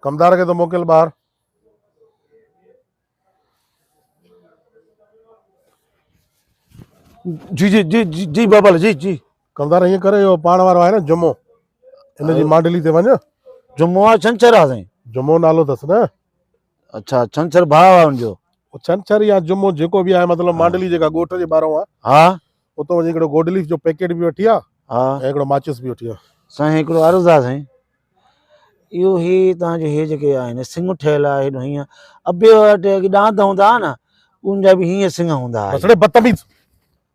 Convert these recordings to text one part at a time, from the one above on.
ڪمدار کي ته موڪل ٻاهر جي جي جي جي جي بابل جي جي ڪمدار ائين ڪر اهو پاڻ وارو آهي نه جمعو ان جي مانڊلي تي وڃ جمعو آ ڇنڇر آ سائين جمعو نالو اٿس نه اڇا ڇنڇر ڀاء آ ان جو. او ڇنڇر يا جمعو جيڪو به آهي مطلب مانڊلي جيڪا ڳوٺ جي ٻاهرون آ. ها. اتو وڃي هڪڙو گوڊ ليف جو پيڪيٽ به وٺي آ. ها. ۽ هڪڙو ماچس به وٺي آ. سائين هڪڙو عرض آ سائين. اهو هي توهان جو هي جيڪي آهن سنگ ٺهيل آ هيڏو هيئن ابي وٽ ڏانت هوندا آ نه ان جا به هيئن سنگ هوندا آ. بس ڙي بدتميز.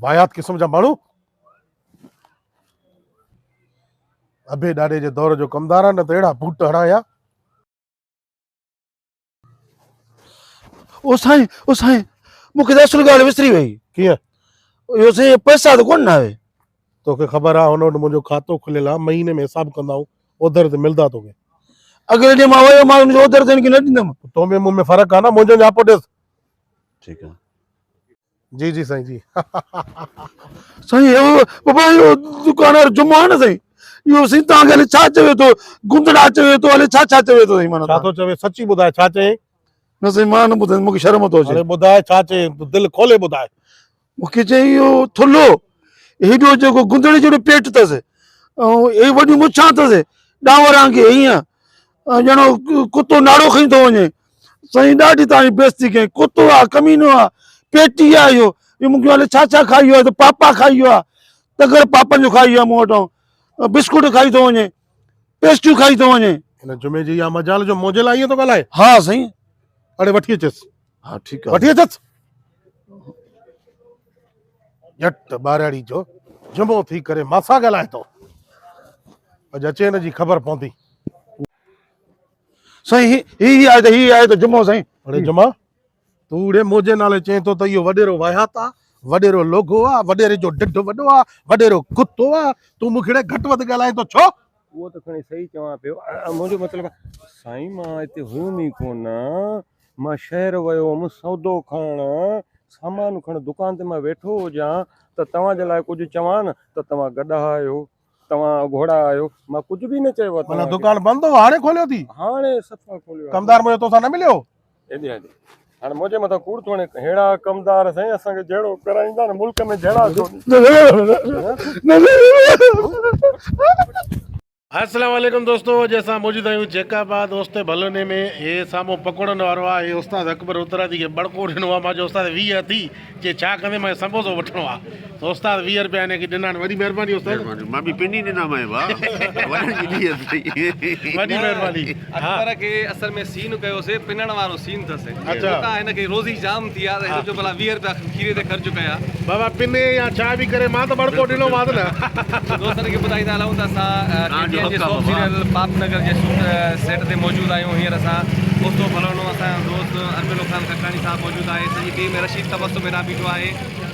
واھيات قسم جا ماڻھو ابي ڏاڏي جي دور جو ڪمدار آ نه ته اھڙا بوٽ ھڻان ھا. او سائين او سائين مون کي ته اصل ڳالهه وسري وئي. ڪيئن؟ اهو سائين پئسا ته ڪونه آهي. توکي خبر آ هن وٽ منهنجو کاتو کليل آ مهيني ۾ حساب ڪندائون اوڌر تي ملدا توکي. اڳلي ڏينهن مان ويو مانس اوڌر ته هن کي نه ڏيندم. تو ۾ مون ۾ فرق آ نه منهنجو نياپو ڏيس. ٺيڪ آ. جي جي سائين جي سائين اهو بابا اهو دڪان وارو جمعو آهي نه سائين اهو سائين تان کي ڇا چوي ٿو گندڙا چوي ٿو هلي ڇا ڇا چوي ٿو سائين مانا ڇا ٿو چوي سچي ٻڌاء ڇا چوي نه سائين مان نه ٻڌائي مونکي شرم ٿو اچي ٻڌاء ڇا چوي دل کولي ٻڌاء مونکي چي اهو ٿلهو هيڏو جيڪو گندڙي جهڙو پيٽ اٿس ۽ هي وڏيون مڇان اٿس ڏانور آنگي هيئن ڄڻو ڪتو ناڙو کڻي ٿو وڃي سائين ڏاڍي تان بيستي ڪئي ڪتو آ ڪمينو آ پيٽي آ اهو اهو مون کي هلي ڇا ڇا کائي ويو آ ته پاپا کائي ويو آ تگر پاپن جو کائي ويو آ مون وٽان بسڪوٽ کائي ٿو وڃي پيسٽريون کائي ٿو وڃي هن جمعي جي يا مجال جو مونجهيل آئيء ٿو ڳالهائي ها سائين اڙي وٺي اچيس ها ٺيڪ آ. وٺي اچس. ڄٽ ٻارڙي جو جمعو ٿي ڪري ماسان ڳالهائي ٿو. اڄ اچي هن جي خبر پوندي. سائين هي هي هي آهي ته هي آهي ته جمعو سائين. اڙي جمعا تون اڙي منهنجي نالي چئين ٿو ته اهو وڏيرو واهيات آ، وڏيرو لوگهو آ، وڏيري جو ڍڍ وڏو آ، وڏيرو ڪتو آ، تون مون کي اڙي گهٽ وڌ ڳالهائين ٿو ڇو؟ اهو ته کڻي صحيح چوان پيو. منهنجو مطلب آ سائين مان هتي هيم ئي ڪونه. مان شهر ويو هوم سودو کڻڻ، سامان کڻڻ، دڪان تي مان ويٺو هجان ته توهان جي لاء ڪجهه چوان نه ته توهان گڏها آهيو، توهان گهوڙا آهيو، مان ڪجهه به نه چيو آهي توهان کي. معنيٰ دڪان بند هو هاڻي کوليو ٿي؟ هاڻي صفا کوليو آهي. ڪمدار منهنجو توسان نه مليو؟ ايڏي هڏي هاڻي منهنجي مٿان ڪوڙ ٿو هڻي. ههڙا ڪمدار سائين اسان کي جهيڙو ڪرائيندا نه ملڪ ۾ جهيڙا ڇو ڏيندا. السلام عليڪم دوستو اڄ اسان موجود آهيون جيڪ آباد اوستي ڀلوني ۾ هي سامو پڪوڙن وارو آ هي استاد اڪبر اترادي کي بڙڪو ڏنو آ ماجو استاد 20 ٿي جي ڇا ڪندي ماجو سمبوسو وٺڻو آ تو استاد 20 روپيا هن کي ڏنا وڏي مهرباني استاد مهرباني مان به پني ڏنا ماهي با وڏن جي نيت ٿي وڏي مهرباني اڪبر کي اصل ۾ سين ڪيو سي پنڻ وارو سين ٿس اتان هن کي روزي جام ٿي آ ته هن چيو ڀلا ويهه روپيا کيري تي خرچ ڪيا بابا پني يا ڇا به ڪري مان ته ٻڙڪو ڏنو مانس نه. دوستن کي ٻڌائيندا هلون ته اسان ٽي ٽي اين جي سوپ سيريل پاپ نگر جي شوٽ سيٽ تي موجود آهيون هينئر اسان اوچتو ڦلڻو اسان جو دوست اربيلو خان کٽاڻي صاحب موجود آهي سڄي ٽيم ۽ رشيد تبسم هيڏانهن بيٺو آهي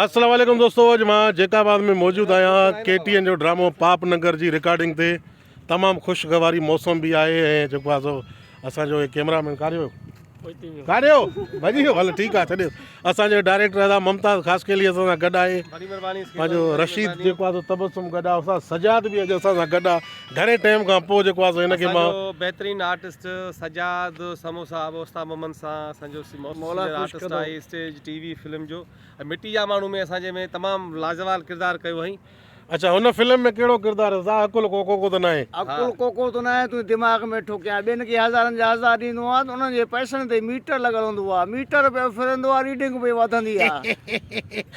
السلام عليڪم دوستو اڄ مان جيڪ آباد ۾ موجود آهيان ڪي ٽي اين جو ڊرامو پاپ ننگر جي رڪارڊنگ تي تمام خوشگواري موسم به آهي ۽ جيڪو آهي سو اسان جو ڪيمرا مين ڪاريو ڪاريو ڀڄي ويو هل ٺيڪ آهي ڇڏيو اسان جو ڊائريڪٽر ادا ممتاز خاص کيلي اسان سان گڏ آهي پنهنجو رشيد جيڪو آهي سو تبسم گڏ آهي اسان سجاد به اڄ اسان سان گڏ آهي گهڻي ٽيم کان پوء جيڪو آهي سو هن کي مان. بهترين آرٽسٽ سجاد سموسا ابو استا ممن سان اسان جو آرٽسٽ آهي اسٽيج ٽي وي فلم جو ۽ مٽي جا ماڻهو ۾ اسان جي ۾ تمام لازوال ڪردار ڪيو هئائين. اڇا هن فلم ۾ ڪهڙو ڪردار هيو سا عقل ڪو ڪوڪو ته ناهي. عقل ڪوڪو ته ناهي تون دماغ ۾ ٺوڪيان ٻين کي هزارن جا هزار ڏيندو آهن ته انهن جي پئسن تي ميٽر لڳل هوندو آهي ميٽر پيو ڦرندو آهي ريڊنگ پئي وڌندي آهي.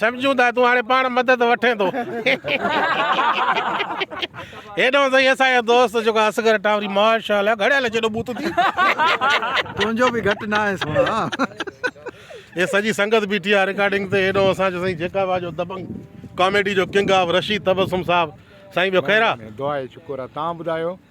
سمجهون ٿا تون هاڻي پاڻ مدد وٺين ٿو هيڏانهن تائين اسان جو دوست جيڪو اصغر ٽاوري ماشاء الله گهڙيل جيڏو بوت ٿي تنهنجو به گهٽ نه آهي سونا هي سڄي سنگت بيٺي آهي رڪارڊنگ تي هيڏانهن اسان جو سائين جيڪا وا جو دبنگ ڪاميڊي جو ڪنگ آف رشيد تبسم صاحب سائين ٻيو خير آ دعا شڪر آ تان ٻڌايو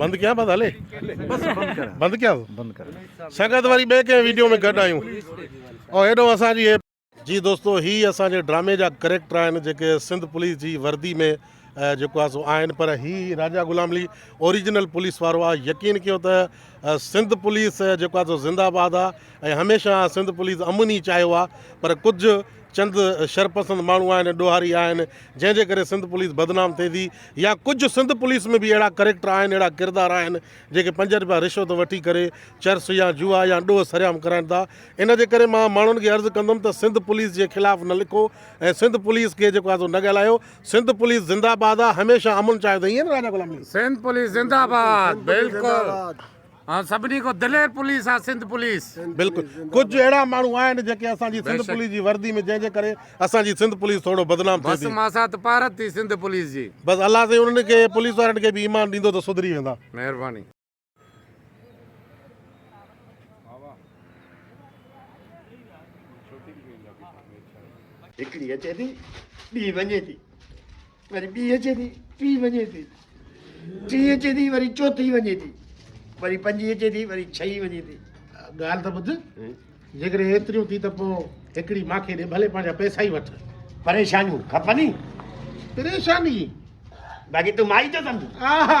بند ڪيان بس هلي بند ڪيان بند ڪر سنگت واري بي ڪنهن ويڊيو ۾ گڏ آيون او هيڏو اسان جي جي دوستو هي اسان جي ڊرامي جا ڪريڪٽر آهن جيڪي سنڌ پوليس جي وردي ۾ جيڪو آسو آهن پر هي راجا غلام علي اوریجنل پوليس وارو آ يقين ڪيو ته سنڌ پوليس جيڪو آسو زنده آباد آ ۽ هميشه سنڌ پوليس امن ئي چاهيو آ پر ڪجهه چند شرپسند ماڻهو آهن ڏوهاري آهن جنهن جي ڪري سنڌ پوليس بدنام ٿئي ٿي يا ڪجهه سنڌ پوليس ۾ به اهڙا ڪريڪٽر آهن اهڙا ڪردار آهن جيڪي پنج رپيا رشوت وٺي ڪري چرس يا جوا يا ڏوهه سريام ڪرائن ٿا ان جي ڪري مان ماڻهن کي عرض ڪندم ته سنڌ پوليس جي خلاف نه لکو ۽ سنڌ پوليس کي جيڪو آهي نه ڳالهايو سنڌ پوليس زنده باد آهي هميشه امن چاهيو ٿي ايئن نه راجا غلام علي سنڌ پوليس زنده باد بلڪل. ۽ سڀني کان دلير پوليس آ سنڌ پوليس. بلڪل ڪجھ اھڙا ماڻھو آھن جيڪي اسان جي سنڌ پوليس جي وردي ۾ جنھن جي ڪري اسان جي سنڌ پوليس ٿورو بدنام ٿئي ٿي. بس ماسا ته پارت ٿي سنڌ پوليس جي. بس الله سائين انھن کي پوليس وارن کي به ايمان ڏيندو ته سڌري ويندا. مھرباني. ھڪڙي اچي ٿي ٻي وڃي ٿي. وري ٻي اچي ٿي ٽي وڃي ٿي ٽي اچي ٿي وري چوٿي وڃي ٿي وري پنجي اچي ٿي وري ڇهي وڃي ٿي ڳالهه ته ٻڌ جيڪڏهن ايتريون ٿي ته پوء هڪڙي ماکي ڏي ڀلي پنهنجا پئسا ئي وٺ پريشانيون کپن ئي پريشاني باقي تون مائي جو سمجهه ها ها